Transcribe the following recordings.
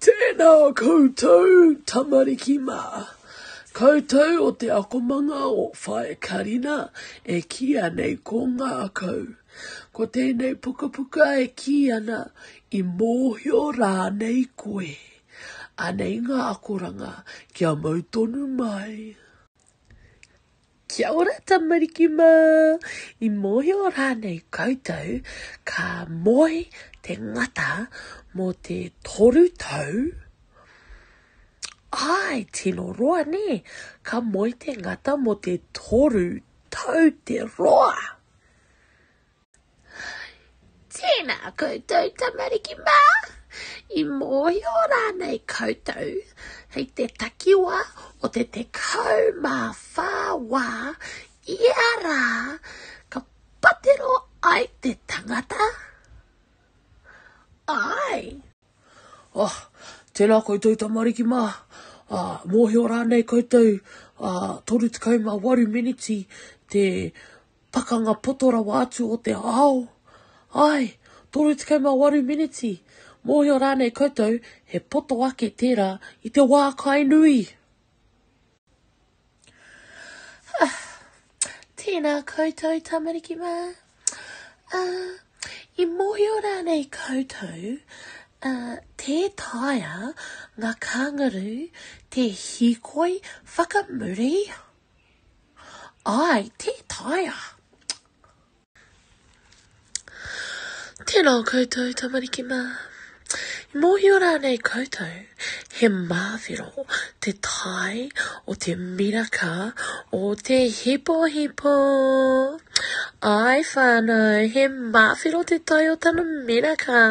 Tēnā koutou tamariki mā, koutou o te akomanga o Whae Karina e kī anei ko ngākau. Ko tēnei pukapuka e kī ana i mōhio rānei koe. Anei ngā akoranga kia mau tonu mai. Kia ora tamariki mā! I mōhio rānei koutou ka moe te ngata mō te toru tau? Āe, tino roa nē, ka moe te ngata mō te toru tau te roa! Tēnā koutou tamariki mā, i mōhio rānei koutou hei te takiwā o te tekau mā whā wā ia rā ka patero ai te tangata? Āe! Ah, tēnā koutou tamariki mā, ah, mōhio rānei koutou, ah, 38 miniti te pakanga poto rawa atu o te ao? Ai, 38 miniti, mōhio rānei koutou he poto ake tērā i te wā kai nui? Ah, tēnā koutou tamariki mā. Ah, i mōhio rānei koutou, ah, tē taea ngā kāngaru te hīkoi whakamuri? Āe, tē taea. Tēnā koutou tamariki mā. I mōhio rānei koutou he māwhero te tae o te miraka o te hipohipo? Āe whānau, he māwhero te tae o tana miraka.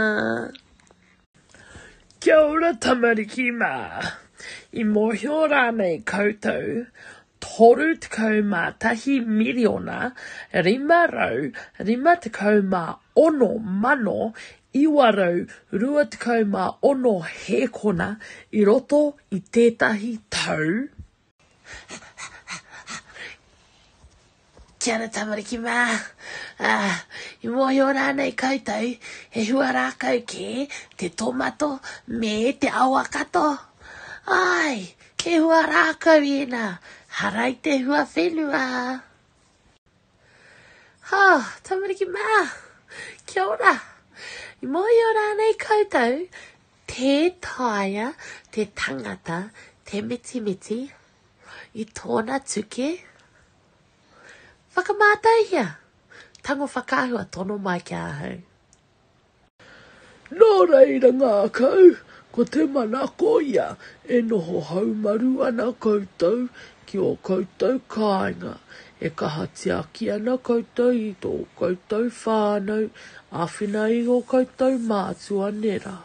Kia ora tamariki mā! I mōhio rānei koutou 31,556,926 hēkona i roto i tētahi tau? Kia ora tamariki mā. Ah, i mōhio rānei koutou, he hua rākau kē te tomato me te awakato? Ai, he hua rākau ēnā, harai te hua whenua. Ha, tamariki mā, kia ora. I mōhio rānei koutou, Tē taea te tangata te mitimiti i tōna tuke? Whakamātaihia! Tango whakaahua tono mai ki ahau. Nō reira ngākau, ko te manako ia e noho haumaru ana koutou Ki ō koutou kāinga, e kaha tiaki ana koutou i tō koutou whānau, āwhina i ō koutou mātua nera.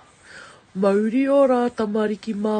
Mauri ō rā tamariki mā!